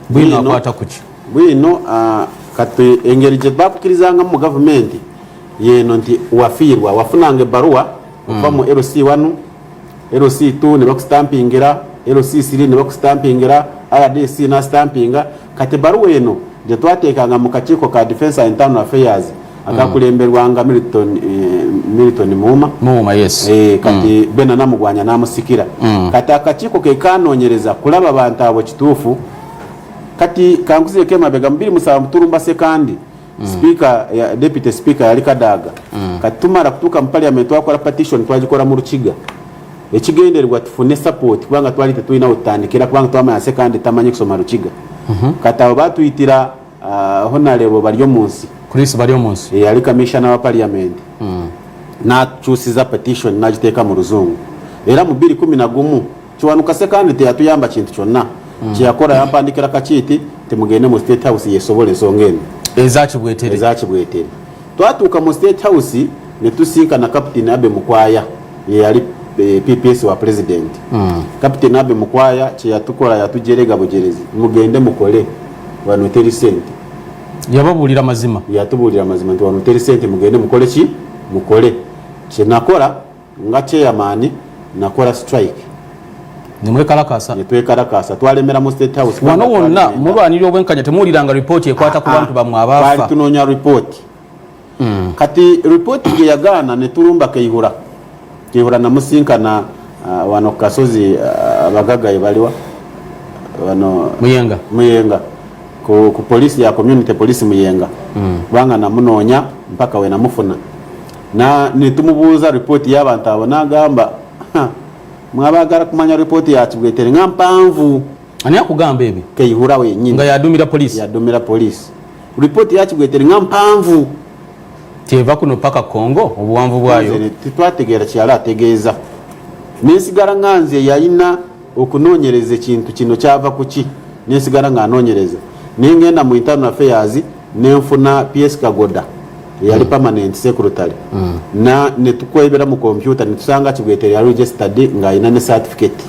bwino akwata kuki bwino uh, kati engeri gye bakukirizangamu mu gavumenti yeno nti wafiirwa wafunanga ebbaluwa okuva mu lc 1 lc 2 ne bakusitampingira lc 3 ne bakusitampingira rdc nasitampinga kati ebbaluwa eno gye twateekanga mu kakiiko ka defense internal affairs agakulemberwanga Milton eh, Milton Muuma Muuma yes eh kati mm. bena namugwanya namusikira mm. kati akakiko ke kanonyereza kulaba bantu abo kitufu kati kanguze ke mabega mbiri musaba muturumba se kandi mm. speaker ya deputy speaker yali kadaga mm. kati tumara kutuka mu parliament twakora petition twajikora mu rukiga ekigenderwa tufune support kubanga twali tetuyina utandikira kubanga twamanya se kandi tamanye kusoma rukiga mm -hmm. kati abo batuyitira Uh, honalebo balyo munsi chris balyo munsi yali eh, kamishana wa parliament mm. nakyusiza petition nagiteeka mu luzungu era mu biri kumi na gumu kiwanuka sekandi teyatuyamba kintu kyonna mm. kyeyakola yampandikira kakiiti temugende mu state house yesobola ensonga eno ezakibwetere ezakibwetere twatuuka mu state house netusinkana captain abe mukwaya yeyali eh, pps wa president mm. captain abe mukwaya kyeyatukola yatujerega bujerezi mugende mukole wano teri sente yababuulira mazima yatubuulira mazima nti wano teri sente mugende mukole ki mukole kyenakola nga chairman nakola strike nemwekalakasa netwekalakasa twalemera mu state house wano wonna mulwanira obwenkanya temuwuliranga ripooti ekwata ku bantu bamwe abaafa tunoonya ripooti mm. kati report gye yagaana ne tulumba keihura keihura namusinkana uh, wano kukasozi uh, abagaga uh, ebaliwa wano muyenga muyenga ku, ku polisi ya community polisi muyenga mm. kubanga mm. namunoonya mpaka we namufuna na netumubuuza report y'abantu abo nagamba mwabagala kumanya report ya kibwetere nga mpanvu ani akugamba ebyo keihura wenyini nga yadumira polisi yadumira polisi Report ya kigwete nga mpanvu kyeva kuno paka Congo obuwanvu bwayo tetwategeera kyala ategeeza nensigala nga nze yalina okunoonyereza ekintu kino kyava kuki nensigala nga anoonyereza nengenda mu internal affairs nenfuna PS Kagoda yali mm. permanent secretary mm. na netukwebera mu computer netusanga kibweteri yali registered nga alina ne certificate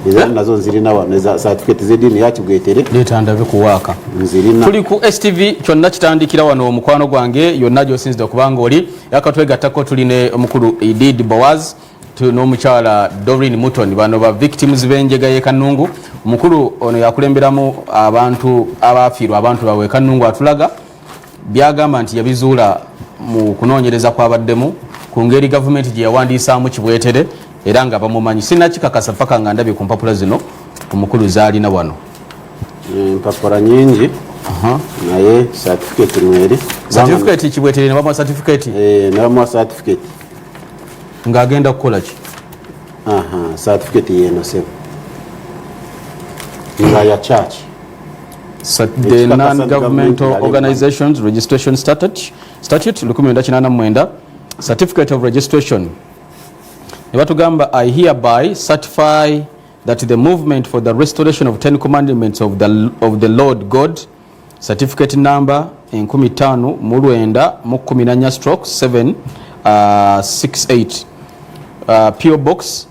ezali eh? nazo nzirina wano eza certificate zedini yakibwetere leeta ndabe kuwaaka nzirina tuli ku stv kyonna kitandikira wano omukwano gwange yonna gyosinzidde okubanga oli yakatwegattako tuli ne omukulu edid boaz n'omukyala dorin muton bano ba victims b'enjega y'ekanungu omukulu ono yakulemberamu abantu abaafiirwa abantu bawe ekanungu atulaga byagamba nti yabizuula mu kunoonyereza kwabaddemu ku ngeri gavumenti gye yawandiisaamu kibwetere era nga bamumanyi sinakikakasa paka nga ndabye ku mpapula zino omukulu zaalina wano eh, empapula nyingi naye satifiketi mweri satifiketi kibwetere nebamuwa satifiketi eh, nebamuwa satifiketi ng'agenda kukola ki satifiketi yeno sebo nga ya church the non-governmental organizations registration statute, statute 1989 certificate of registration ne batugamba i hereby certify that the movement for the restoration of ten commandments of the, of the lord god certificate number enkumi tano mu lwenda mu kumi nanya stroke 768 uh, uh, po box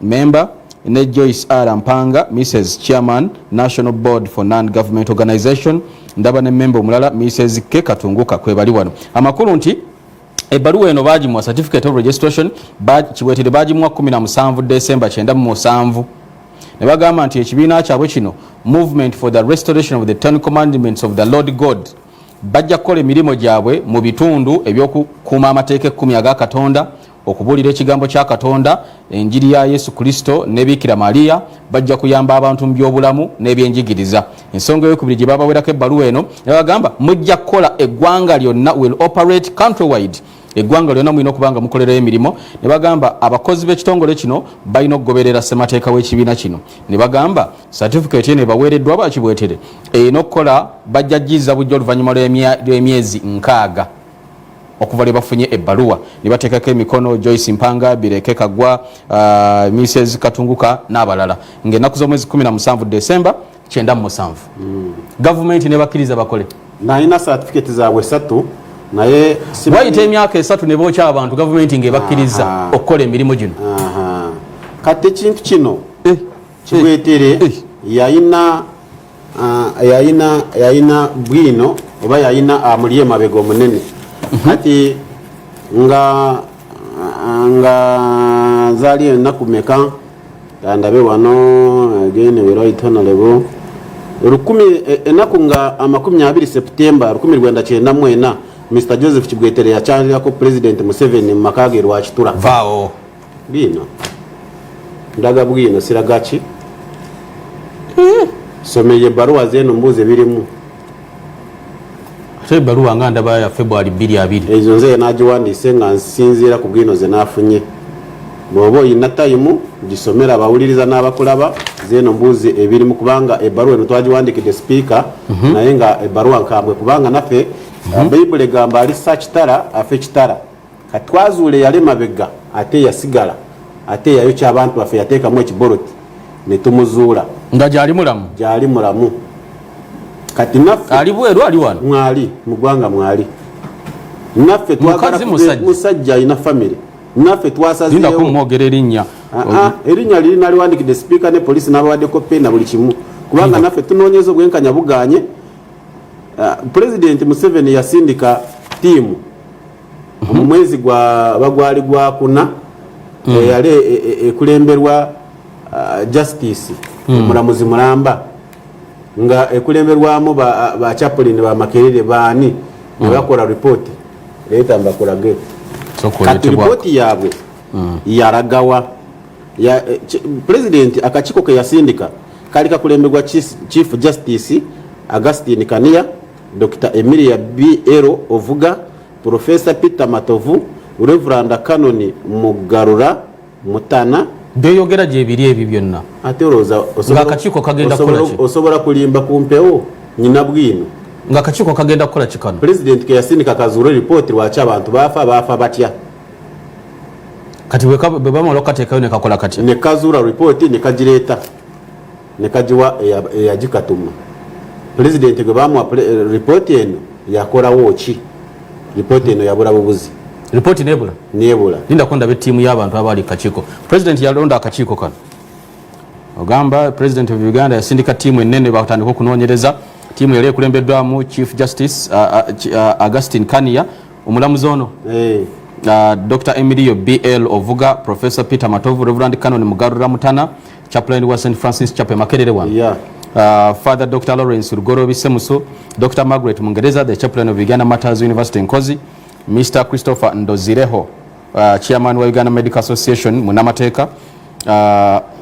member ne Joyce R Mpanga Mrs Chairman National Board for Non Government Organization ndaba ne member omulala Mrs K Katunguka kwebali wano amakulu nti ebbaluwa eno baagimwa certificate of registration kiweetere baagimwa 17 december 97 ne bagamba nti ekibiina kyabwe kino movement for the restoration of the ten commandments of the lord god bajja kukola emirimu gyabwe mu bitundu ebyokukuuma amateeka ekkumi aga katonda Okubuulira ekigambo kya Katonda, enjiri ya Yesu Kristo ne Bikira Maria bajja kuyamba abantu mu by'obulamu n'ebyenjigiriza. Ensonga ey'okubiri gye babawerako ebbaluwa eno ne bagamba mujja kukola eggwanga lyonna will operate countrywide eggwanga lyonna mulina okuba nga mukolerayo emirimu ne bagamba abakozi b'ekitongole kino balina okugoberera ssemateeka w'ekibiina kino ne bagamba satifikeeti eno ebaweereddwa bakibwetere erina okukola bajja jjiza bujja oluvannyuma lw'emyezi nkaaga okuva lwe bafunye ebbaluwa ne bateekako emikono joyce mpanga bireke kagwa uh, mises katunguka n'abalala ng'ennaku z'omwezi 17 desemba 97 mm. gavumenti ne bakkiriza bakole nalina satifiketi zaabwe esatu naye wayita emyaka esatu ne bookya abantu gavumenti ng'ebakkiriza okukola emirimu gino kati ekintu kino eh, eh, kibwetere eh. yalina Ah, yayina yayina bwino oba yayina amuli ah, emabega omunene mhm. kati nga ah, nga zali enaku meka andabe wano again we right honorable lukumi e, enaku nga amakumi abiri september lukumi lwenda kyenda mwena mr joseph kibwetere yakyalirako president museveni mu maka ge lwakitura vaawo bwino ndaga bwino siraga ki eh. someye baruwa zeno mbuze birimu ate ebaluwa nga ndaba ya february bbiri abiri ezo nze nagiwandiise nga nsinziira ku bwino ze nafunye bwoba oyina tayimu gisomera abawuliriza n'abakulaba zeeno mbuuzi ebirimu kubanga ebaluwa eno twagiwandikidde sipiika mhm. naye nga ebaluwa nkambwe kubanga naffe mhm. bayibuli egamba ali sakitara afe kitara katwazuule yali mabega ate yasigala ate yayokya abantu baffe yateekamu ekiboloti ne tumuzuula nga gyali mulamu gyali mulamu kati naffe ali bweru ali wano mwali mu ggwanga mwali naffe musajja alina famire naffe twasazeewokumwogera erinnya ah, ah, erinnya liri naliwandikidde sipiika ne polisi n'abawaddeko peena buli kimu kubanga naffe tunoonyeza obwenkanya buganye ah, pulezidenti museveni yasindika tiimu mu mwezi gwa bagwali gwa kuna mm. eyali e, e, e, ekulemberwa uh, justice mm. omulamuzi mulamba nga ekulemberwamu bachaplin ba bamakerere baani mm. nebakola ripoti leeta mbakulage kati ripoti yaabwe yaragawa pulezidenti akakiiko ke yasindika kali kakulemberwa chief justice augustin kaniya Dokita Emilia BL Ovuga, Pulofeesa Peter Matovu, Reveranda Kanoni Mugarura Mutana. Byoyogera gyebiri ebyo byonna. Ate olowooza ng'akakiiko kagenda kukola ki? Osobola kulimba ku mpewo nyina bwino. Ng'akakiiko kagenda kukola ki kano? Pulezidenti ke yasindika kazuule lipooti lwaki abantu baafa baafa batya. Kati bwe bamala okukateekayo ne kakola katya? Ne kazuula lipooti ne kagireeta. ne kagiwa eyagikatuma pulezidenti gwe bamuwa eh, ripooti eno yakolawo ki ripooti eno yabula bubuzi ripooti nebula nebula lindako ndaba ettiimu y'abantu abaali kakiiko pulezidenti yalonda akakiiko kano ogamba pulezidenti of uganda yasindika ttiimu ennene batandika okunoonyereza ttiimu yali ekulembeddwamu chief justice uh, uh, uh, augustin kania omulamuzi ono hey. Eh. Uh, dr emilio bl ovuga professor peter matovu reverand canon mugarura mutana chaplain wa st francis chapel makerere wano yeah. Uh, father dr lawrence lugoro bisemuso dr margaret mungereza the chaplain of uganda matters university nkozi mr christopher ndozireho uh, chairman wa uganda medical association munamateeka uh,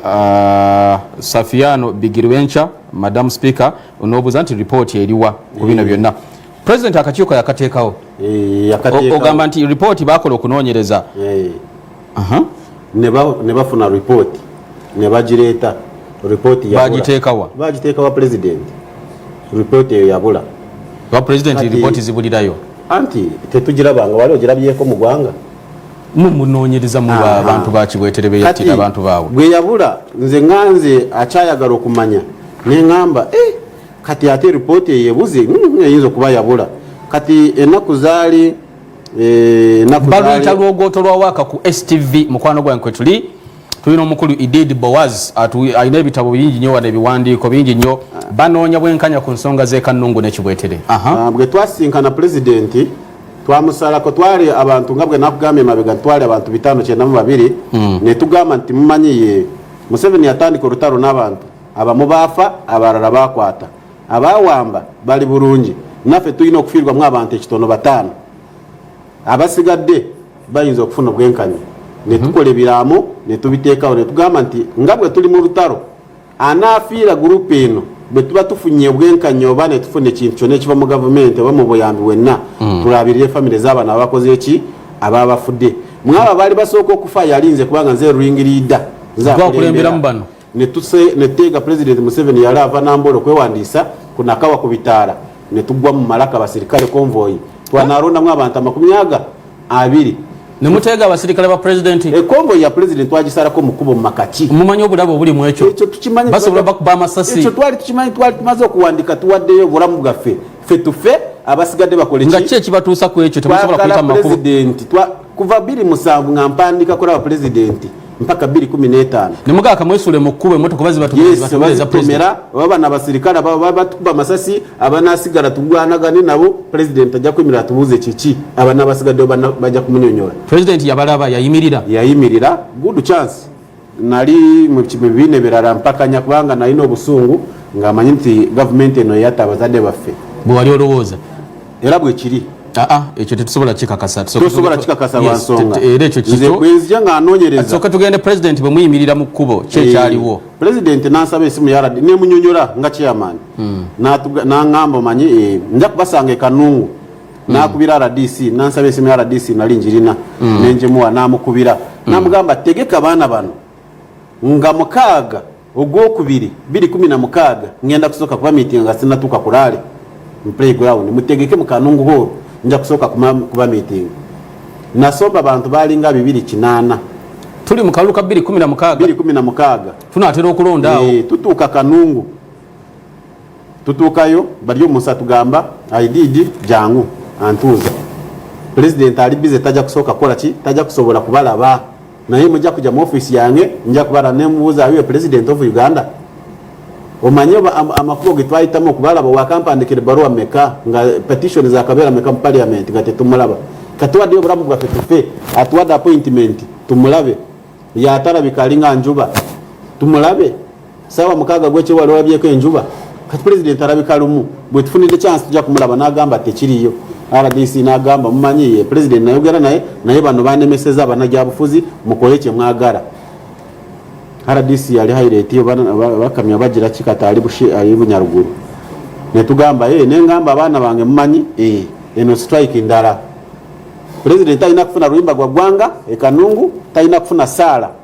uh, safiano bigirwenca madam speaker onobuuza nti report eriwa ku bino byonna president akakiiko yakateekawo eh, ogamba nti report bakola okunoonyereza eh. ne bafuna ripooti ne bagireeta ripooti bagiteekawa bagiteekawa pulezidenti ripooti eyo yabula ba pulezidenti ripooti zibulirayo anti tetugirabanga wali ogirabyeko mu gwanga munoonyereza mu bantu bakibwetere beyattira abantu baabwe gwe yabula nze nga nze akyayagala okumanya ne ŋamba eh, kati ate ripooti eyo ebuze mm, eyinza okuba yabula kati ennaku zaali baluyita lwogoto lwa waaka ku stv mukwano gwange kwetuli tulina omukulu idid boaz alina ebitabo bingi nyo wano ebiwandiiko bingi nyo ah. banoonya bwenkanya ku nsonga zekanungu nekibwetere ah, bwe twasinkana pulezidenti twamusalako twali abantu nga bwe nakugambye mabega twali abantu bitano kyenda mu babiri hmm. netugamba nti mumanyiye museveni yatandika olutalo n'abantu abamu baafa abalala bakwata abaawamba bali bulungi naffe tulina okufiirwamu abantu ekitono bataano abasigadde bayinza okufuna obwenkanya netukola ebiraamo netubiteekawo netugamba nti nga bwe tuli mu lutalo anaafiira gurupu eno bwe tuba tufunye obwenkanya oba netufuna ekintu kyona ekiva mu gavumenti oba mu buyambi wenna hmm. tulabirire famire z'abaana abakoze eki ababafudde mwaba baali basooka okufa yalinze kubanga nze ringiriida nzakulemberamu bano netuteega pulezidenti museveni yali ava nambola okwewandiisa kunakawa ku bitaala netugwa mu malaka basirikale konvoyi twanalondamu abantu amakumi aga abiri nemuteega abasirikale ba pulezidenti ekonvoyi eh, ya pulezidenti twagisalako mukubo mumakaki mumanyi obulabe obuli mu ekyo basobola bakuba amasasi ekyo twali tukimanyi twali tumaze okuwandika tuwaddeyo obulamu bwaffe fe tufe abasigadde bakole nga ki ekibatuusa ku ekyo temusobola kuyita mu makubo kuva bbiri musanvu nga mpandiika kulaba pulezidenti mpaka bbiri kumi n'etaano ne mugaka mwesule mu kkubo emmotoka bazi batutomera oba bana abasirikale ababa batukuba amasasi abanasigala tugwanagane nabo pulezidenti ajja kuyimirira tubuuze kiki abana abasigaddeyo bajja kumunyonyola pulezidenti yabalaba yayimirira yayimirira good chance nali mu bibiina ebirala mpakanya kubanga nalina obusungu ng'amanyi nti gavumenti eno eyatta abazadde baffe bwe wali olowooza era bwe kiri aa ah, ah, ekyo tetusobola kikakasa tosobola kikakasa lwansonga era ekyo kito bwenzija nga anoonyereza soka tugende pulezidenti bwe muyimirira mu kkubo ki eh, ekyaliwo pulezidenti n'ansaba esimu ya radi nemunyonyola nga chairman hmm. n'aŋŋamba omanyi eh, nja kubasanga ekanungu mm. nakubira rdc nansaba esimu ya rdc nali njirina mm. nenjimuwa namukubira mm. namugamba tegeka baana bano nga mukaaga ogwokubiri biri kumi na mukaaga ngenda kusooka kuba miitinga nga sinatuuka ku laale mu playground mutegeke mukanungu hooro nja kusooka kuba miitinga nasomba bantu baalinga bibiri kinaana tuli mu kalulu ka biri kumi na mukaaga biri kumi na mukaaga tunaatera okulonda awo tutuuka kanungu tutuukayo bali omusa tugamba aididi jangu antuuza pulezidenti ali bize tajja kusooka kukola ki tajja kusobola kubalaba naye mujja kujja mu ofiisi yange nja kubala nemubuuza awiwe pulezidenti of uganda omanye amakubo ge twayitamu okubalaba wakampandikira ebbaluwa meka nga petitioni zakabeera meka mu paliamenti nga tetumulaba katuwaddeyo obulamu bwaffe tufe atuwadde appointment tumulabe yatalabika alinga njuba tumulabe saawa mukaaga gwekyo wali olabyeko enjuba kati pulezidenti alabika lumu bwetufunidde kyansi tujja kumulaba n'agamba tekiriyo rdc n'agamba mumanyi ye pulezidenti nayogera naye naye bano banemeseza banagyabufuzi mukole kyemwagala rdc yali haireti bakamya bagira kikata ali bunyaruguru netugamba ye nengamba abaana bange mumanyi eh, eno strike ndala pulezidenti talina kufuna luyimba gwa ggwanga ekanungu talina kufuna saala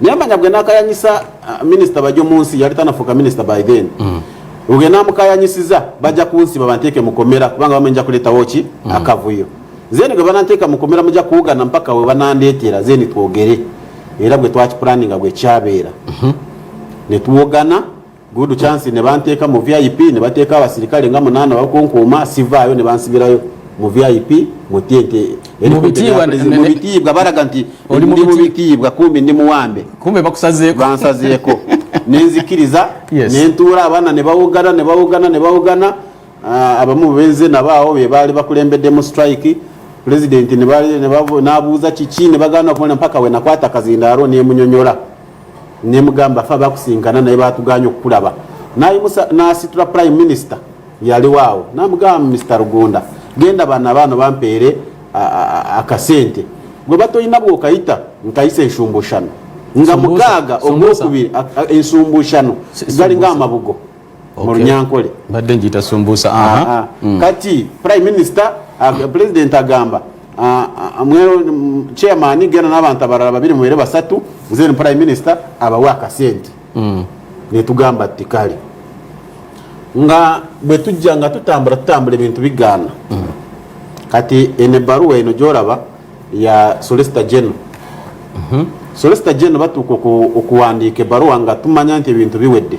naye manya gwe nakayanyisa uh, minisita bajo munsi yali tanafuuka minisita by then mm. gwe namukayanyisiza bajja kunsiba banteeke mukomera kubanga bamenja kuleetawo ki mm. akavuyo zeni gwe bananteeka mukomera muja kuwugana mpaka we banandeetera zeni twogere era gwe twakipulaninga gwe kyabeera mm-hmm. ne tuwogana good chance ne banteeka mu vip ne bateeka abasirikale nga munaana bakunkuuma sivaayo ne bansibirayo mu vip mu tente mu bitiibwa balaga nti ndi mu bitiibwa kumbi ndi muwambe kumbe bakusazeeko bansazeeko nenzikiriza nentuula abaana ne bawugana ne bawugana ne bawugana ah, abamu benze nabaawo be baali bakulembeddemu strike pulezidenti n'abuuza kiki ne bagana okumala mpaka we nakwata kazindaalo nemunyonyola nemugamba fa bakusinkana naye batuganye okukulaba nayimusa nasitula prime minister yaliwo awo namugamba mr rugunda genda bana baano bampeere akasente gwe batolina bwokayita nkayisa enshumbushano nga mukaaga ogwokubiri ensumbushano galinga amabugo mu runyankole mbadde njiyita sumbuusa ah, ah. Hmm. kati prime minister ah, president agamba chairman genda n'abantu abalala babiri mubere basatu then prime minister abawe akasente hmm. netugamba ti kale nga bwe tujja nga tutambula tutambula ebintu bigaana hmm. kati ene baruwa eno gyolaba ya solista geno mhm. solista geno batuuka okuwandiika ebaruwa nga tumanya nti ebintu biwedde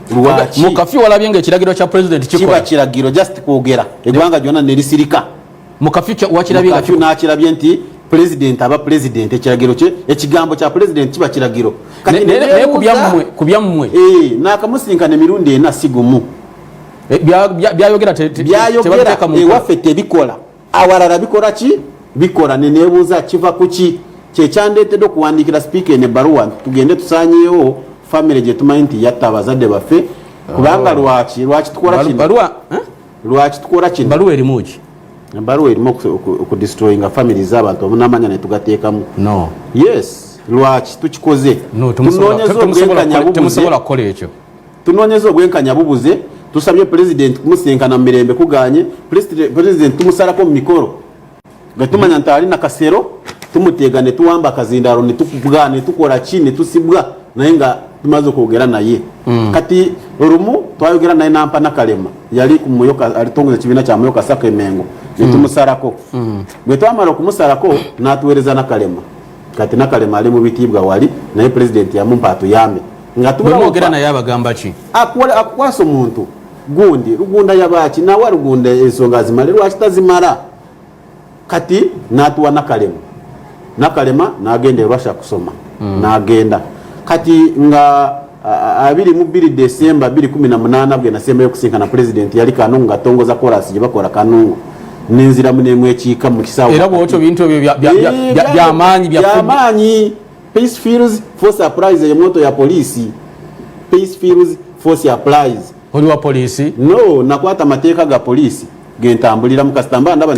lwaki mu kafyu walabye nga ekiragiro kya president kikola kiba kiragiro just kwogera eggwanga lyonna ne lisirika mu kafyu wakirabye nga nakirabye nti president aba president ekiragiro kye ekigambo kya president kiba kiragiro naye ku byammwe eh, nakamusinkana emirundi ena si gumu eh, byayogera byayogera ewaffe tebikola awalala bikola ki bikola nenebuuza kiva kuki kyekyandeetedde okuwandiikira sipiika eno ebbaluwa tugende tusanyeewo famire gyetumanyi nti yatta abazadde baffe kubanga oh. lwaki lwaki tukola kino eh? lwaki tukola kino baluwa erimu ki baluwa erimu okudestroyinga famire z'abantu omunamanya netugateekamu no yes lwaki tukikoze tunoonyeza obwenkanya bubuze Tunoonyeza obwenkanya bubuze, tusabye Pulezidenti kumusisinkana mu mirembe kuganye, Pulezidenti tumusalako mu mikolo nga tumanya nti ali na kasero tumuteega ne tuwamba akazindaalo ne tukugaa ne tukola ki ne tusibwa naye nga tumaze okwogera naye mm. kati olumu twayogera naye nampa nakalema yali alitongoza ekibiina kya muyoka sako emengo ne mm. tumusalako mm. bwe twamala okumusalako n'atuweereza nakalema kati nakalema ali mu bitiibwa wali naye pulezidenti yamumpa atuyambe ngatubwogera naye abagamba ki akukwasa omuntu gundi lugunda yabaaki nawa lugunda ensonga zimale lwaki tazimala kati natuwa nakalema nakalema nagenda erwasha kusoma mm. nagenda kati nga abiri mu bbiri desemba bbiri kumi na munaana bwe nasembayo okusinkana pulezidenti yali kanungu ngatongoza korasi gye bakola kanungu nenziramu nemwekiika mu kisaawaera bwotyo bintu ebyo byamaanyi byamaanyi peace fields force applies eyo moto ya poliisi peace fields force applies oli wa poliisi no nakwata amateeka ga poliisi gentambuliramu kasitamba ndaba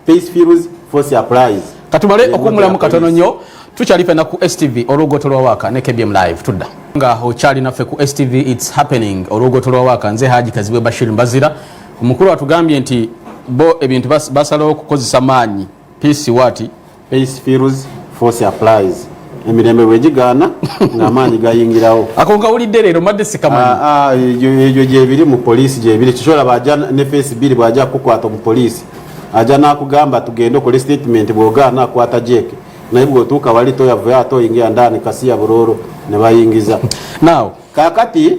Peace Fields for surprise. Katubale okumulamu katono nyo tukyali pena ku STV olugoto lwa waka ne KBM live tudda nga okyali naffe ku STV it's happening olugoto lwa waka nze Haji Kazibwe Bashir Mbazira omukulu atugambye nti bo ebintu basalawo okukozesa maanyi peace wati Pace feels force applies. emirembe bwegigaana ng'amaanyi gayingirawo ako nkawulidde leero madde sikamanyi ah, ah, egyo gyebiri mu poliisi gyebiri kisobola baja ne feesi bbiri bwaja kukukwata omupoliisi aja nakugamba tugende okole statement bwogaana akwata jeeke naye bwotuuka wali toyavayo ate oyingira ndani kasiya burooro ne bayingiza now kakati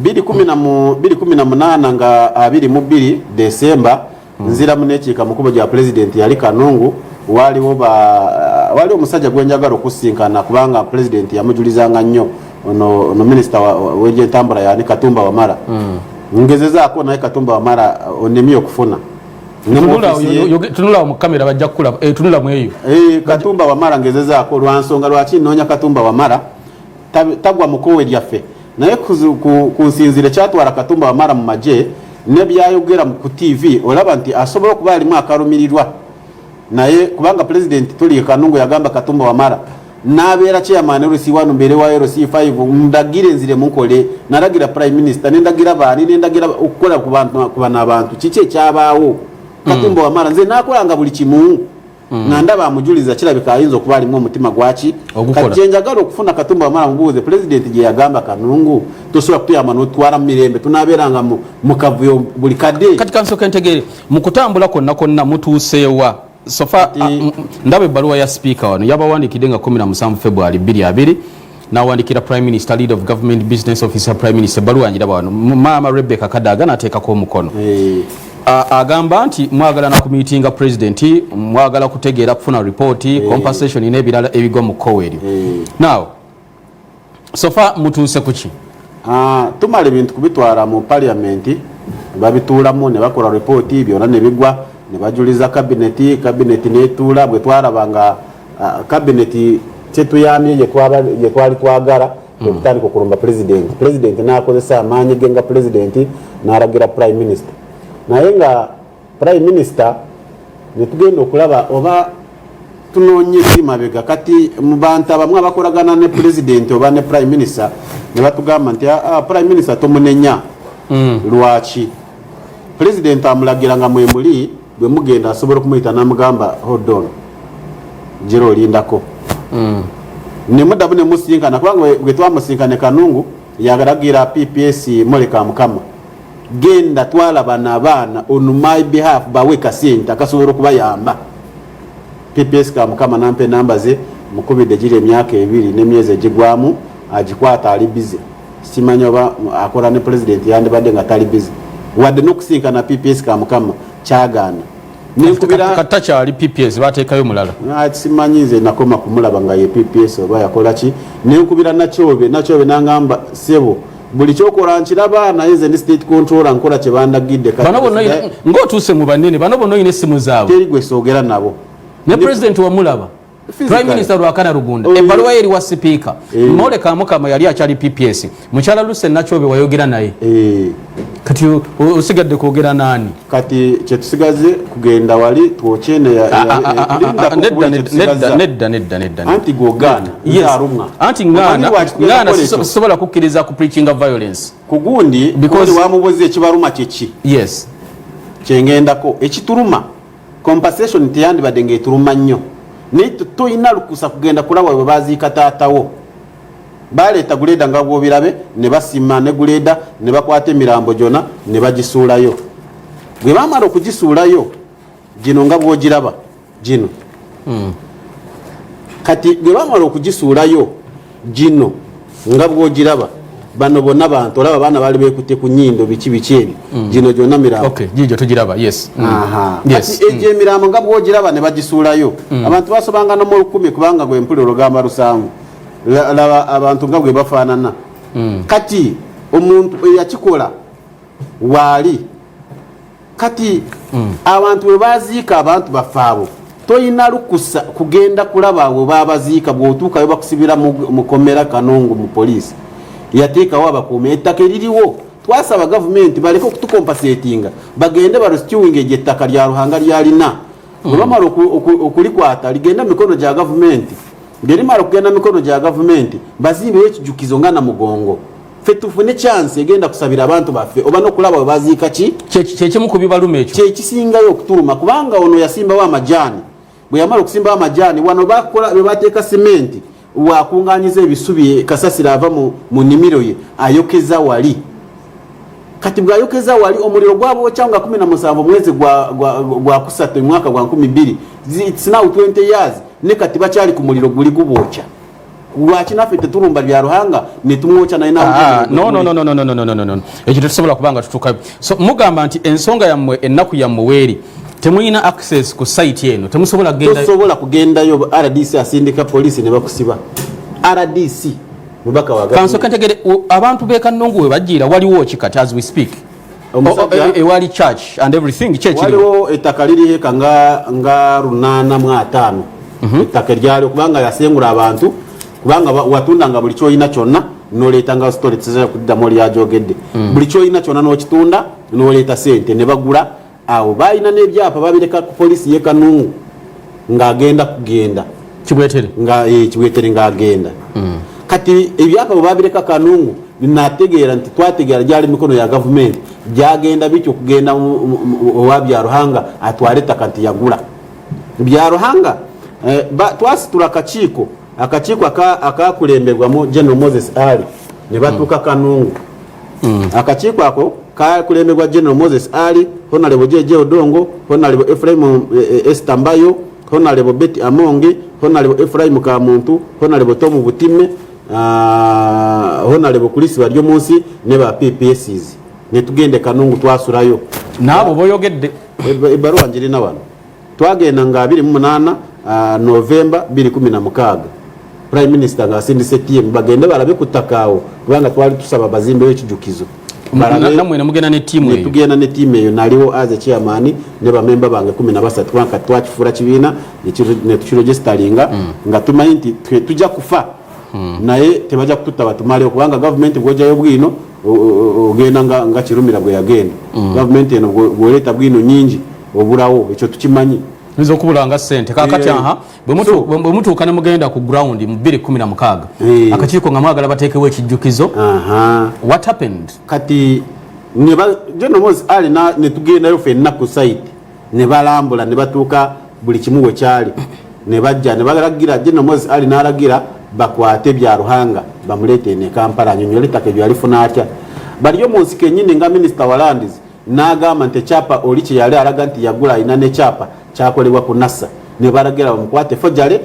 218 nga 22 december nzira munekiika mukubo gya pulezidenti yali kanungu waliwo waliwo omusajja gwenjagala okusinkana kubanga pulezidenti yamujulizanga nnyo ono minisita wegyentambula yani katumba wamala hmm. ngezezaako naye katumba wamala onemye okufuna tunulawo mukamera bajja kukulaba eh, tunula mweyo eh, katumba wamala ngezezaako lwansonga lwaki noonya katumba wamala tagwa mu koowe lyaffe naye ku nsinziire kyatwala katumba wamala mu magye nebyayogera ku tv olaba nti asobola okuba alimu akalumirirwa naye kubanga pulezidenti tuli kanungu yagamba katumba wamala nabeera chairman rc wanu mbeere wa rc 5 ndagire nzire munkole nalagira prime minister nendagira baani nendagira okukola kubana abantu kiki ekyabaawo hmm. katumba wamala nze nakolanga buli kimu mm. nga ndaba amujuliza kirabika ayinza okuba alimu omutima gwaki kajje njagala okufuna katumba wamala mubuuze pulezidenti gye yagamba kanungu tosobola kutuyamba notwala mu mirembe tunabeeranga mu kavuyo buli kadde kati kansooka entegeere mu kutambula konna konna mutuuseewa sofa ndaba ebbaluwa ya sipiika wano yabawandiikidde nga 17 february 22 nawandikira prime minister lead of government business officer prime minister baluwa njira bano maama rebecca kadaga nateekako omukono hey. agamba nti mwagala na kumitinga president mwagala kutegeera kufuna report hey. compensation nebirala ebigwa mu kkowa eryo hey. now sofa mutuuse kuki uh, tumala ebintu kubitwala mu parliament babituulamu ne bakola report byona ne bigwa ne bajuliza kabineti kabineti netuula bwe twalaba nga kabineti ah, kyetuyambye yetwali twagala hmm. okutandika okulumba pulezidenti pulezidenti nakozesa amaanyi ge nga pulezidenti nalagira prime minister naye nga prime minister netugenda okulaba oba tunonye kimabega kati mubantu abamu abakolagana ne pulezidenti oba ne prime minister nebatugamba nti ah, ah, prime minister tomunenya hmm. lwaki pulezidenti amulagira nga mwemuli bwe mugenda asobola okumuyita namugamba hodon gira olindako hmm. nemudamu nemusinkana kubanga wetwamusinkane kanungu yagaragira pps moleka mukama genda twalaba nabaana on my behalf bawe kasente akasobola okubayamba pps ka mukama nampa enamba ze mukubidde giri emyaka ebiri nemyezi egigwamu agikwata ali bize simanyi oba akola ne president yandibadde nga tali bizi wadde nokusinkana pps kamukama kyagaana nnkubiratakyali pps batekayo mulala ah, simanyi nze nakoma kumulaba nga ye pps oba yakolaki nenkubira nakyobe nakyobe nangamba sebo buli kyokola nkiraba naye nze ndi state controller nkola kyebandagidde ngaotuuse mu banene bano bona olina essimu zaabwe teri gwe soogera nabo ne president wamulaba prime minister lwakana lugunda oh, ebbaluwa ye eriwa sipiika eh. moleka mukama yali akyali pps mukyala luse nakyobe wayogera naye eh. kati osigadde kwogera naani kati kyetusigaze kugenda wali twokyeneyaneddaaneddaaneddaaneddaaanti gogana aruma anti ngana sisobola kukkiriza ku preaching of violence kugundi because wamubuza ekibaruma kyeki yes kyengendako ekituluma Compensation teyandibadde ng'etuluma nnyo naye tolina lukusa kugenda kulaba bwe baziika taatawo baleeta guleeda nga bwobirabe ne basima ne guleeda ne bakwata emirambo gyona ne bagisuulayo bwe bamala okugisuulayo gino nga bwogiraba gino hmm. kati bwe bamala okugisuulayo gino nga bwogiraba bano bonna bantu olaba abaana baali bekutte ku nyindo biki biki ebyo mm. gino gyonna mirambogijo tugiraba yes mm. mm. egyo emirambo nga bwogiraba ne bagisuulayo abantu basobanga nomu olukumi kubanga gwe mpulira olugamba lusangu laba abantu nga bwe bafaanana kati omuntu eyakikola waali kati mm. abantu we baziika abantu baffe abo toyina lukusa kugenda kulaba we babaziika bwotuukayo bakusibira mukomera kanongo mu poliisi yateekawo abakuuma ettaka eririwo twasaba gavumenti baleke okutukompasetinga bagende barustiwinga egyo ettaka lya ruhanga lyalina mm. webamala okulikwata ligenda mikono gya gavumenti ngerimala okugenda mikono gya gavumenti bazimbeyo ekijukizo nga namugongo ffe tufune chance egenda kusabira abantu baffe oba nokulaba webaziika ki kyekimu ku bibaluma ekyo kyekisingayo okutuluma kubanga ono yasimbawo amajaani bwe yamala okusimbawo amajaani wano bakola webateeka simenti wakunganyiza ebisubi kasasira ava mu nnimiro ye ayokeza wali kati bwayokeza wali omuliro gwabwokya nga 17 omwezi gwakusatu omwaka gwa 12 its now 20 years ne kati bakyali ku muliro guli gubwokya lwaki naffe tetulumba bya ruhanga netumwokya naye ah, ekyo tetusobola kubanga tutuka so mugamba nti ensonga yammwe ennaku yammwe weeri temulina access ku site eno temusobola kugendasobola kugendayo rdc asindika polisi ne bakusiba rdc mubaka waga kansoka ntegere abantu bekanungu we bajiira waliwo ki kati as we speak omusajja oh, oh, ewali eh, church and everything church waliwo ettaka liri heka nga nga runana mu ataano mhm. ettaka eryali kubanga yasengula abantu kubanga watunda nga buli kyoyina kyonna noleeta nga story tizaa kuddamu oli yajogedde mm. buli kyoyina kyonna nokitunda noleeta sente ne bagula awo balina nebyapa babireka ku polisi ye kanungu ngaagenda kugenda kibwetere nga eh, kibwetere ngaagenda hmm. kati ebyapa bwe babireka kanungu nategeera nti twategeera gyali mikono ya gavumenti gyagenda bityo okugenda owa byaruhanga atwale ettaka nti yagula byaruhanga eh, twasitula akakiiko akakiiko akakulembebwamu general moses ali ne batuuka hmm. kanungu hmm. akakiiko ako kakulembebwa general moses ali honalebo jeje odongo honalebo efraimu eh, eh, estambayo honalebo beti amongi honalebo efraimu kamuntu honalebo tomu butime ah, honalebo kulisi balyo munsi ne ba ppss netugende kanungu twasulayo naabo boyogedde ebaruwa njirina wano twagenda nga 28 ah, novemba 216 prime minister nga asindise tm bagende balabe ku ttaka awo kubanga twali tusaba bazimbeyo ekijukizo tugenda ne tiimu eyo naliwo aze chairman ne bamemba bange kumi na basatu kubanga twakifuula kibiina netukirogesitalinga mm. nga tumanyi nti tujja kufa mm. naye tebajja kututta batumalewo kubanga gavumenti bwojayo bwino ogenda nga kirumira bwe yagenda mm. gavumenti eno bwoleeta bwino nyingi obulawo ekyo tukimanyi nze okubula nga sente kakati eh, aha bwe mutuuka ne mugenda ku ground mu 216 eh. akakiiko nga mwagala bateekewo ekijjukizo what happened kati genomozi ali ne tugendayo fenna ku site ne balambula ne batuuka buli kimu we kyali ne bajja ne balagira genomozi ali n'alagira bakwate bya ruhanga bamuleete ne kampala anyonyole ettaka ebyo yalifuna atya baliyo mu nsiko ennyini nga minisita walandizi n'agamba nti ekyapa oli kye yali alaga nti yagula alina n'ekyapa kyakolebwa ku nasa ne balagera bamukwate fojale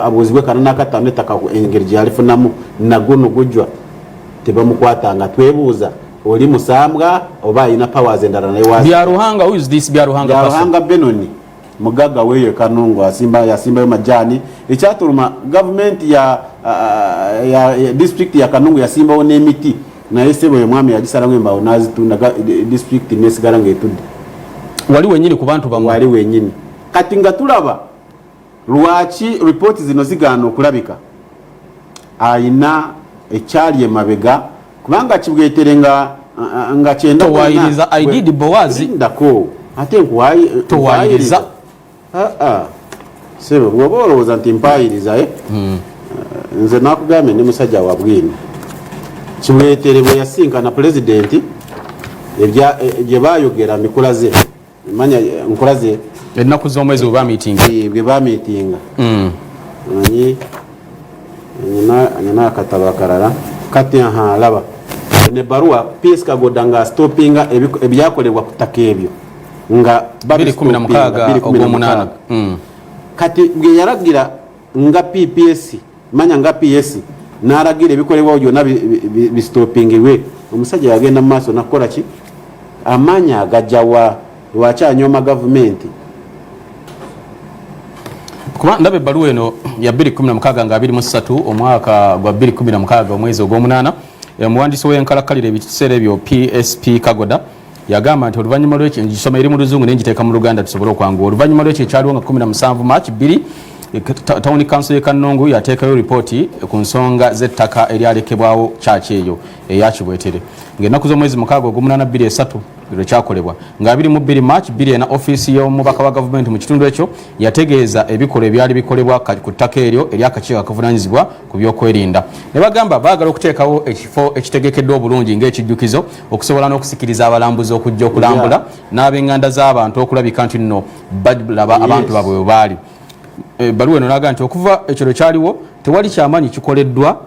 abuuzibwe kana n'akattaano ettaka engeri gye yalifunamu naguno gujwa tebamukwata nga twebuuza oli musambwa oba alina powers endala naye wa bya ruhanga who is this bya ruhanga bya ruhanga benoni mugagga weeyo ekanungu asimba yasimbayo majaani ekyatuluma gavumenti ya, uh, ya, ya disitulikiti ya kanungu yasimbawo n'emiti naye sebo oyo mwami yagisalamu embaawo n'azitunda disitulikiti nesigala ng'etudde wali wenyini ku bantu bamwe wali wenyini kati nga tulaba lwaki ripooti zino zigaana okulabika ayina ekyali emabega kubanga kibwetere nga nga kyenda towayiriza i did bowazi ndako ate nkuwayi towayiriza ah ah sebo bwoba olowooza nti mpayiriza eh hmm. eh, nze nakugambye ndi musajja wa bwino kibwetere bwe yasinkana pulezidenti eh, gye bayogera mikulaze manya nkola ze ennaku z'omwezi webamitinga eh, bwe bamitinga hmm. manyi nyina akatabo akalala kati aha laba ne baruwa ps kagoda nga stopinga ebyakolebwa ku ttaka ebyo nga hmm. kati bwe yalagira nga pps manya nga ps n'alagira ebikolebwawo byonna bisitopingibwe omusajja yagenda mu maaso nakukola ki amaanyi agajawa lwaki anyooma gavumenti kuba ndaba ebbaluwa eno ya 216 nga 23 omwaka gwa 216 omwezi ogw'omunaana omuwandiisi w'enkalakkalira ebiseera ebyo psp kagoda yagamba nti oluvannyuma lwekyo ngisoma eri mu luzungu naye ngiteeka mu luganda tusobole okwanguwa oluvannyuma lwekyo ekyaliwo nga 17 march 2 eh, tawuni kanso ye kannungu yateekayo lipooti ku nsonga z'ettaka eryalekebwawo kyaki eyo eya kibwetere ng'ennaku z'omwezi mukaaga ogumunana 23 lwe kyakolebwa nga 22 march 2 ena ofiisi y'omubaka wa gavumenti mu kitundu ekyo yategeeza ebikolwa ebyali bikolebwa ku ttaka eryo eryakakiiko akavunaanyizibwa ku byokwerinda ne bagamba baagala okuteekawo ekifo ekitegekeddwa obulungi ng'ekijjukizo okusobola n'okusikiriza abalambuzi okujja okulambula n'abenganda z'abantu okulabika nti nno balaba abantu babwe we baali ebbaluwa eh, eno naga nti okuva ekyo lwe kyaliwo tewali kyamaanyi kikoleddwa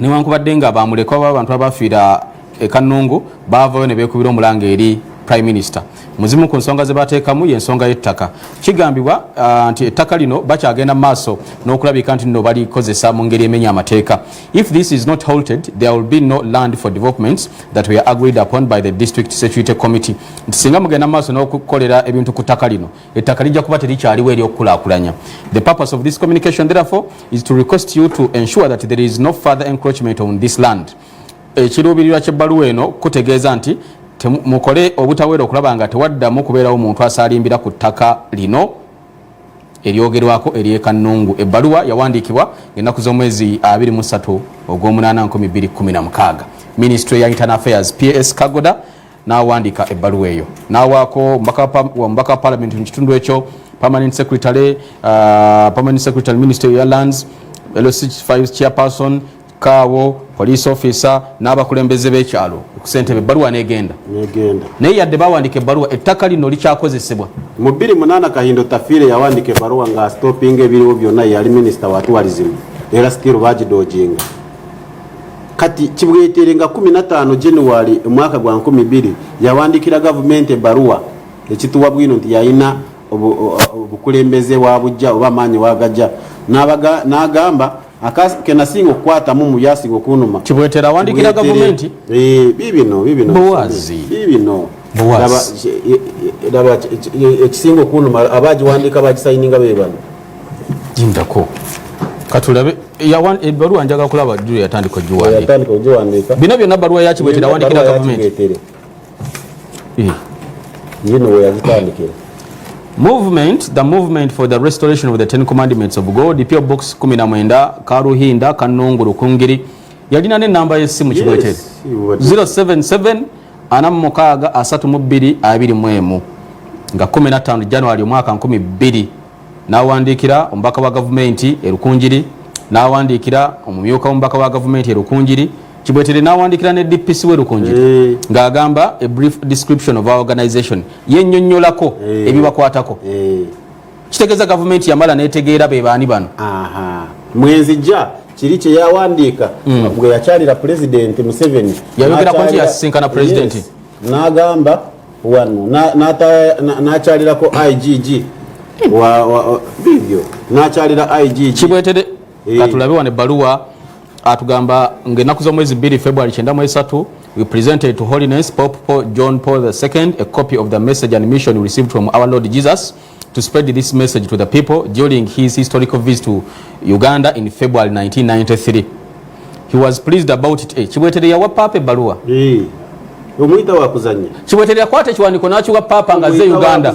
newankubadde nga bamulekwa babantu abafiira ekanungu baavayo ne beekubira omulanga eri prime minister muzimu ku nsonga ze bateekamu y'ensonga y'ettaka kigambibwa ah, nti ettaka lino bakyagenda mu maaso n'okulabika nti nno balikozesa mu ngeri emenya amateeka If this is not halted, there will be no land for developments that were agreed upon by the district security committee. Nti singa mugenda maaso n'okukolera ebintu ku ttaka lino, ettaka lijja kuba terikyaliwo eri okukulaakulanya. The purpose of this communication therefore is to request you to ensure that there is no further encroachment on this land. Ekiruubirirwa ky'ebbaluwa eno kutegeeza nti mukole obutaweera okulaba nga tewaddamu kubeerawo muntu asaalimbira ku ttaka lino. eryogerwako ery'e Kannungu. Ebbaluwa yawandiikibwa ng'ennaku z'omwezi 23 ogw'omunaana 2016. Minisitule ya Internal Affairs PS Kagoda n'awandiika ebbaluwa eyo n'awaako omubaka wa palamenti mu kitundu ekyo permanent secretary, uh, permanent secretary minister ya lands LC5 chairperson kaawo police officer n'abakulembeze b'ekyalo ku ssentebe ebbaluwa n'egenda naye yadde bawandiika ebbaluwa ettaka lino likyakozesebwa mu 28 kahindo tafiire yawandiika ebbaluwa nga stopinga ebiriwo byonna yali minisita wa tuwalizimu era stiru bagidooginga kati kibwetere nga 15 january omwaka gwa 12 yawandiikira gavumenti ebbaluwa ekituwa bwino nti yalina obukulembeze wa bujja oba amaanyi wagajja n'agamba akas kenasinga okukwata mumu yasinga okunuma kibwetera awandikira gavumenti eh, bibino bibino bowazi bibino bowazi laba ekisinga okunuma abagiwandika bagisayininga bebano jindako katulabe ebbaluwa njaga kulaba juu yatandika ogiwandiika bino byonna baluwa yakibwetera awandikira gavumenti Eh. yino weyazitandikira Movement, the movement for the restoration of the Ten Commandments of God, PO Box 19, Karuhinda, Kanungu, Rukungiri. Yalina ne namba y'essimu kigwete. 077 ana mukaaga asatu mu bbiri abiri mu emu nga 15 January omwaka 12 n'awandiikira omubaka wa gavumenti e Rukungiri n'awandiikira omumyuka w'omubaka wa gavumenti e Rukungiri kibwetere n'awandiikira ne dpc we lukunjiri eh. ng'agamba a brief description of our organization yennyonnyolako eh. ebibakwatako eh. kitegeeza gavumenti yamala netegeera be baani bano mwenzijja kiri kye yawandiika hmm. gwe yakyalira pulezidenti museveni yayogerako nti yasisinkana pulezidenti n'agamba wano n'akyalirako igg bibyo n'akyalira igg kibwetere katulabe wano ebbaluwa atugamba ng'ennaku z'omwezi bbiri february kyenda mu esatu we presented to holiness pope paul, john paul ii a copy of the message and mission received from our lord jesus to spread this message to the people during his historical visit to uganda in february 1993 he was pleased about it eh, kibwetere yawa paapa ebbaluwa eh, omuyita wakuzanya kibwetere yakwata ekiwandiko n'akiwa paapa nga ze uganda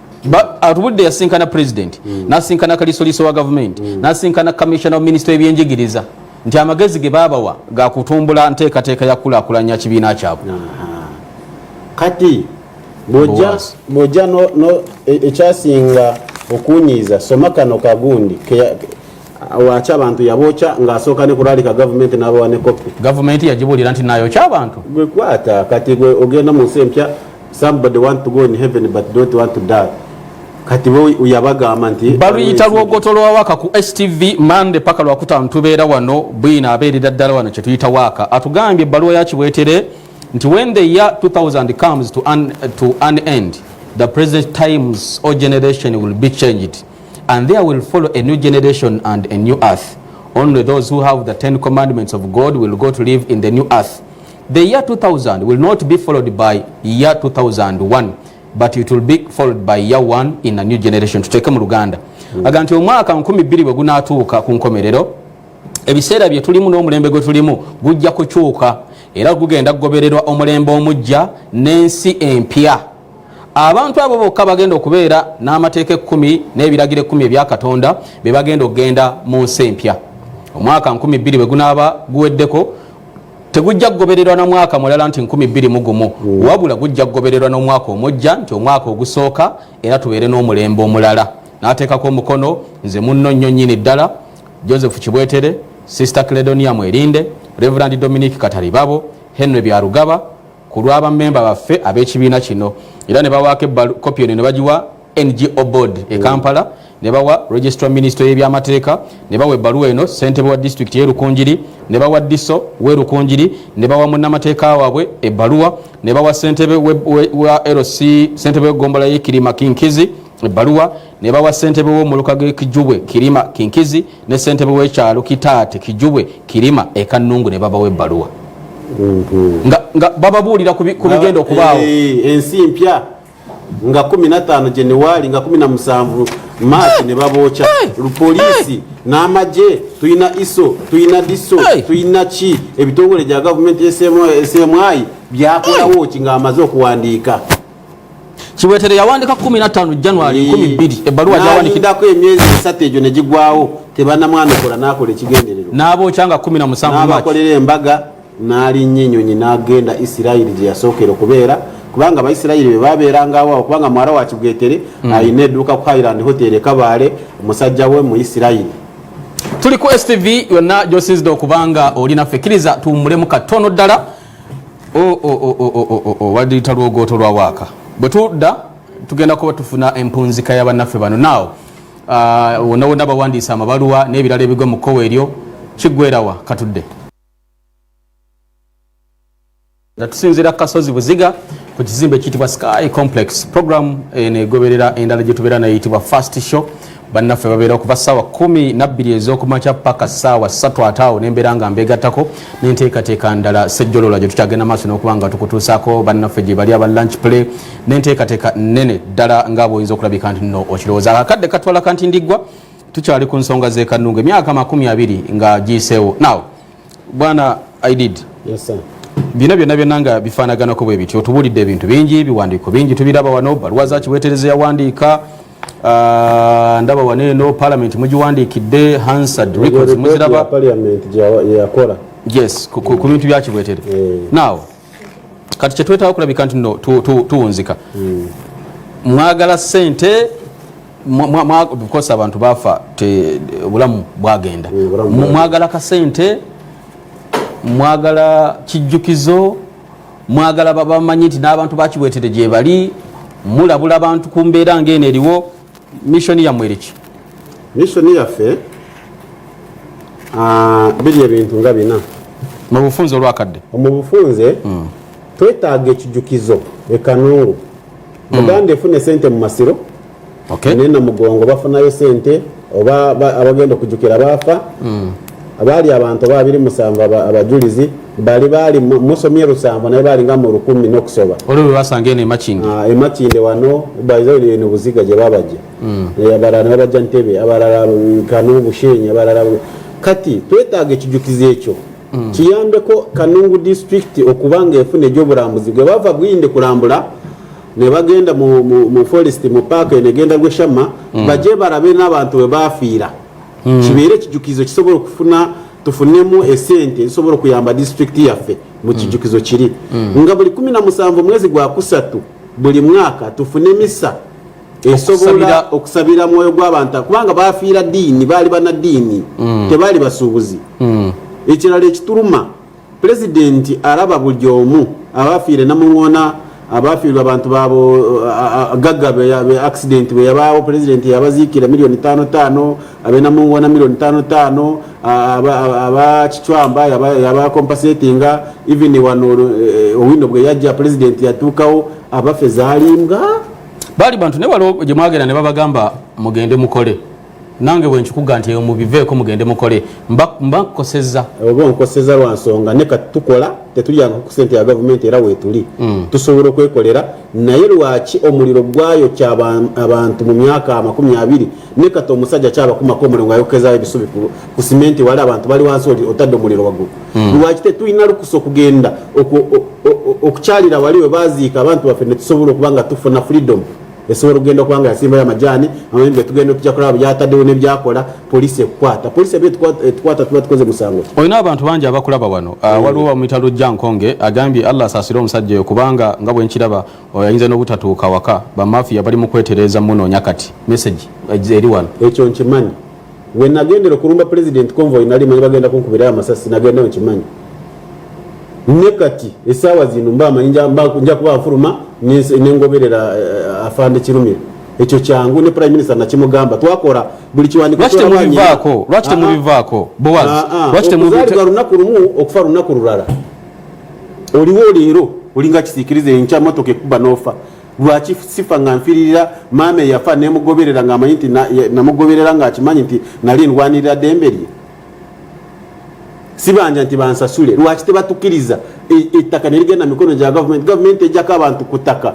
atubudde yasinkana president mm. nasinkana kalisoliso wa gavumenti mm. nasinkana commissioner wa minisita webyenjigiriza nti amagezi ge babawa gakutumbula nteekateeka yakulakulanya kibiina kyabwe kati bwojja e, ekyasinga okunyiiza soma kano kagundi wakya abantu yabokya ngaasooka ne kulaalika gavumenti n'abawa ne kopi gavumenti yagibulira nti naayokya abantu gwe kwata kati gwe ogenda mu nsi empya somebody want to go in heaven but don't want to die kati yabagamba nti baluyita lwogoto lwa waka ku stv mande paka lwakutaano tubeera wano bwina abeerera ddala wano kyetuyita waaka atugambye ebbaluwa yakibwetere nti when the year 2000 comes to an, to an end the present times or generation will be changed and there will follow a new generation and a new earth only those who have the ten commandments of god will go to live in the new earth The year 2000 will not be followed by year 2001 but it will be followed by year 1 in a new generation tuteeke mu luganda mm. aga nti omwaka 12 bwe gunaatuuka ku nkomerero ebiseera bye tulimu n'omulembe gwe tulimu gujja kukyuka era gugenda kugobererwa omulembe omujja n'ensi empya abantu abo bokka bagenda okubeera n'amateeka ekkumi n'ebiragiro ekkumi ebya katonda be bagenda okugenda mu nsi empya omwaka 12 bwe gunaaba guweddeko tegujja kugobererwa na mwaka mulala nti nkumi bbiri mu gumu mm. wabula gujja kugobererwa n'omwaka omujja nti omwaka ogusooka era tubeere n'omulembe omulala n'ateekako omukono nze munno nnyo nnyini ddala joseph kibwetere sister cledonia mwerinde reverand dominic kataribabo henry byarugaba ku lw'abamemba baffe ab'ekibiina kino era ne bawaako kopi eno ne bagiwa ngo board e kampala mm. ne bawa registra minisito y'ebyamateeka ne bawa ebbaluwa eno ssentebe wa disitulikiti y'erukunjiri ne bawa diso w'erukunjiri ne bawa munnamateeka waabwe ebbaluwa ne bawa ssentebe wa lc ssentebe w'eggombola y'e kirima kinkizi ebbaluwa ne bawa ssentebe w'omuluka g'e kijubwe kirima kinkizi ne ssentebe w'ekyalo kitaate kijubwe kirima e kannungu ne babawa ebbaluwa nga bababuulira ku bigenda okubaawo eh, eh, ensi mpya nga 15 January nga 17 March ne baboocha poliisi n'amagye tulina iso tulina diso tulina ki ebitongole gya gavumenti esemwayi byakolawo ki ng'amaze okuwandiika kiwetere yawandika 15 january 12 ebbaluwa gyawandikidako emyezi esatu egyo negigwawo tebanamwanukula nakola ekigendererwa n'aboocha nga 17 n'abakolera embaga n'alinnya ennyonyi n'agenda isirayiri gye yasookera okubeera kubanga abaisirayiri be babeeranga awo kubanga mwala wa kibwetere mm. alina edduuka ku highland hotel e kabaale omusajja we mu isirayiri tuli ku stv yonna gyosinzidde okubanga oli naffe kkiriza tuwummulemu katono ddala walita lwogooto lwa waaka bwe tudda tugenda kuba tufuna empunzika ya bannaffe bano naawo uh, wonna wonna bawandiisa amabaluwa n'ebirala ebigwa mu kkowa eryo kiggwerawa katudde nga tusinziira ku kasozi buziga ku kizimbe ekiyitibwa sky complex program eno eh, egoberera endala gye tubeera nayitibwa fast show bannaffe babeera okuva ssaawa kumi nabbiri ez'okumakya paka ssaawa ssatu ate awo nembeera nga mbeegattako n'enteekateeka ndala sejjolola gye tukyagenda maaso n'okuba nga tukutuusaako bannaffe gye bali aba lunch play n'enteekateeka nnene ddala nga bwoyinza okulabika nti no okirowooza akadde katwala kanti ndiggwa tukyali ku nsonga zekanunga emyaka makumi abiri nga giyiseewo now bwana i did yes, sir. bino byonna byonna nga bifaanaganako bwe bityo tubuulidde ebintu bingi biwandiiko bingi tubiraba wano baluwa za kiwetereza yawandiika ah, ndaba wano eno palamenti mugiwandiikidde hansard records muziraba yes ku bintu bya kiwetere eh. now kati kyetwetaaga okulabika nti no tuwunzika hmm. mwagala sente bikosa abantu bafa obulamu bwagenda hmm, mwagala kasente mwagala kijjukizo mwagala bamanyi nti n'abantu bakibwetere gyebali mulabula abantu ku mbeera ngaeno eriwo mission yammwe eriki mission yaffe ah, biri ebintu nga bina mu bufunze olwakadde mu bufunze hmm. twetaaga ekijukizo ekanungu hmm. uganda efuna esente mu masiro naye na mugongo bafunayo sente oba abagenda okujukira baafa hmm. abaali abantu oba abiri musanvu abajulizi bali bali musomye lusango naye bali nga mu lukumi n'okusoba olwo bwe basanga eno emakinde ah, emakinde wano baizabuli eno buziga gye babajja hmm. eh, abalala ne babajja ntebe abalala kano bushenyi abalala kati twetaaga ekijukizo ekyo hmm. kiyambeko kanungu disitulikiti okuba nga efuna egyobulambuzi gwe bava bwinde kulambula ne bagenda mu forest mu paaka eno egenda gweshama hmm. baje balabe n'abantu bwe bafiira kibeere ekijukizo kisobola okufuna tufunemu esente ezisobola okuyamba disitulikiti yaffe mu mm. kijukizo kiri mm. nga buli kumi na musanvu omwezi gwa kusatu buli mwaka tufune misa esobola okusabira mwoyo gw'abantu kubanga bafiira diini baali banadiini mm. tebaali basuubuzi ekirala ekituluma Pulezidenti alaba buli omu abaafiire Namuŋŋoona abaafiirwa abantu baabo gagga be accident bwe yabaawo pulezidenti yabaziikira miliyoni taano taano ab'e Namuŋŋoona miliyoni taano taano aba Kicwamba yaba compensatinga even wano eh, Owino bwe yajja pulezidenti yatuukawo abaffe zaalimbwa baali bantu naye waliwo gye mwagenda ne babagamba mugende mukole nange bwenkikuga nti eyo mubiveeko mugende mukole mba nkukoseza oba onkoseza lwa nsonga ne kati tukola tetulyanga ku sente ya gavumenti era weetuli mm. tusobola okwekolera naye lwaki omuliro gwayokya abantu mu myaka amakumi abiri ne kati omusajja kyabakumako omuliro ngaayokezayo ebisubi ku simenti wali abantu bali wansi otadde omuliro waggulu mm. lwaki tetulina lukusa okugenda okukyalira wali we baziika abantu baffe ne tusobola okuba nga tufuna freedom esobola okugenda okuba nga yasimbayo amajaani amanyi getugenda tujja kulaba byataddewo nebyakola polisi ekukwata polisi eba etukwata tuba tukoze musango olina abantu bangi abakulaba wano ah, mm. waliwo wamuyita lujja nkonge agambye allah asaasire omusajja oyo kubanga nga bwenkiraba oyinza n'obutatuuka waka bamafiya bali mu kwetereeza munoonya kati meseji eh, eri wano ekyo nkimanyi we nagendera okulumba president convoy nali manyi bagenda kunkubirayo amasasi nagendayo nkimanyi ne kati esaawa zino mba manyi nja kuba nfuluma nengoberera eh, afande kirumira ekyo kyangu ne prime minister nakimugamba twakola buli kiwandikotemubivaako lwaki temubivaako bowazokuzaalibwa lunaku lumu okufa lunaku lulala oliwo leero olinga kisikiriza enkya motoka ekuba nofa lwaki sifa nga nfiririra maama eyafa nemugoberera ngaamanyi nti namugoberera ngaakimanyi nti nali ndwanirira dembe lye sibanja nti bansasule lwaki tebatukiriza e, ettaka nerigenda mikono gya gavumenti gavumenti ejjako abantu ku ttaka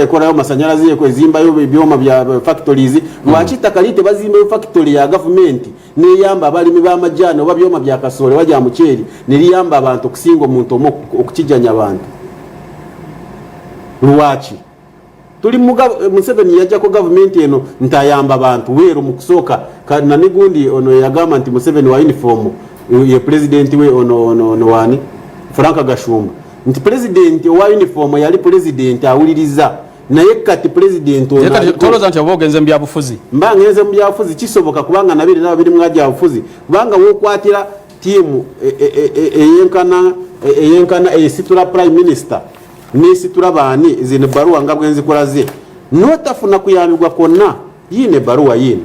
ekolayo masanyalaze ezimbayo ebyoma bya factories lwaki ettaka lii tebazimbayo factory ya gavumenti neyamba abalimi b'amajaani oba byoma bya kasooli oba gya muceeri ne liyamba abantu okusinga omuntu omu okukijanya abantu lwaki tuli museveni yajjako gavumenti eno nti ayamba bantu weeru mu kusooka nanigundi ono yagamba nti museveni wa yunifoomu ye pulezidenti we ono wani frank gashumba nti pulezidenti owa yunifoomu yali pulezidenti awuliriza naye kati pulezidenti onotoloza nti oba ogenze mubyabufuzi mba ngenze mubyabufuzi kisoboka kubanga nabiri naba biri mwagyabufuzi kubanga wokwatira tiimu e, e, e, eyenkana eyenkana eyesitula prime minister nesitula baani zino baruwa nga bwenzikolaze notafuna kuyambibwa kwonna yiino ebbaluwa yiino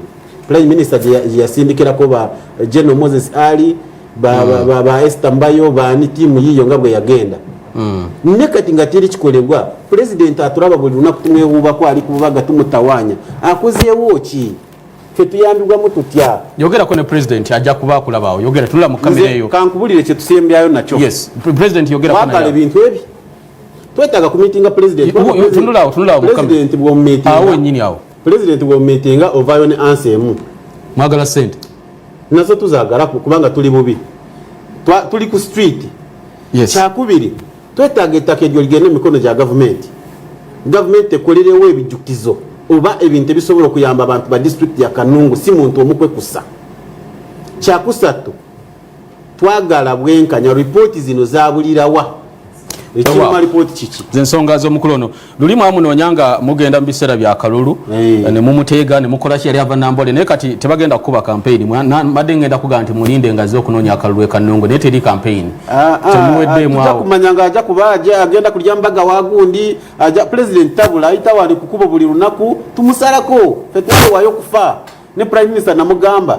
prime minister gyeyasindikirako ba geno moses ali ba, mm. ba, ba, ba ester mbayo baani tiimu yiiyo nga bwe yagenda mm. ne kati nga teri kikolebwa pulezidenti atulaba buli lunaku tumwewuubako ali kububaga tumutawanya akozeewo ki fetuyambibwamu tutya yogerako ne president ajja kuba akulabawo yogera tunula mu kamera eyo kankubulire kyetusembyayo nakyo yes president yogerako ebintu ebyo twetaaga kumitinga pulezidenti bwomumitinga ovaayo ne ansi emu mwagala sente nazo tuzagala kubanga tuli bubi tuli ku street kyakubiri twetaaga ettaka eryo ligende mu mikono gya gavumenti gavumenti ekolerewo ebijjukizo oba ebintu ebisobola okuyamba abantu ba disitulikiti ya kanungu si muntu omukwekusa kyakusatu twagala bwenkanya ripooti zino zabulirawa ekiruma lipooti kiki zensonga zomukulu ono luli mwamunoonya nga mugenda mu biseera bya kalulu eh, ne mumuteega ne mukola ki yali ava nambole naye kati tebagenda kukuba kampeyini mbadde ngenda kugaa nti mulinde nga azze okunoonya akalulu ekanungu naye teri kampeyini ah, ah, temuweddeemwakumanya ah, nga aja kuba aja agenda kulya mbaga wagundi aja pulezidenti tabula ayitawo ali kukubo buli lunaku tumusalako fetwawayo okufa ne prime minister namugamba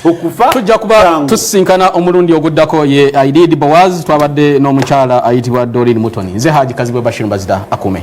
okufa tujja kuba tusisinkana omulundi oguddako ye aidid bowaz twabadde n'omukyala ayitibwa dorin mutoni nze haji kazibwe bashir mbazida akume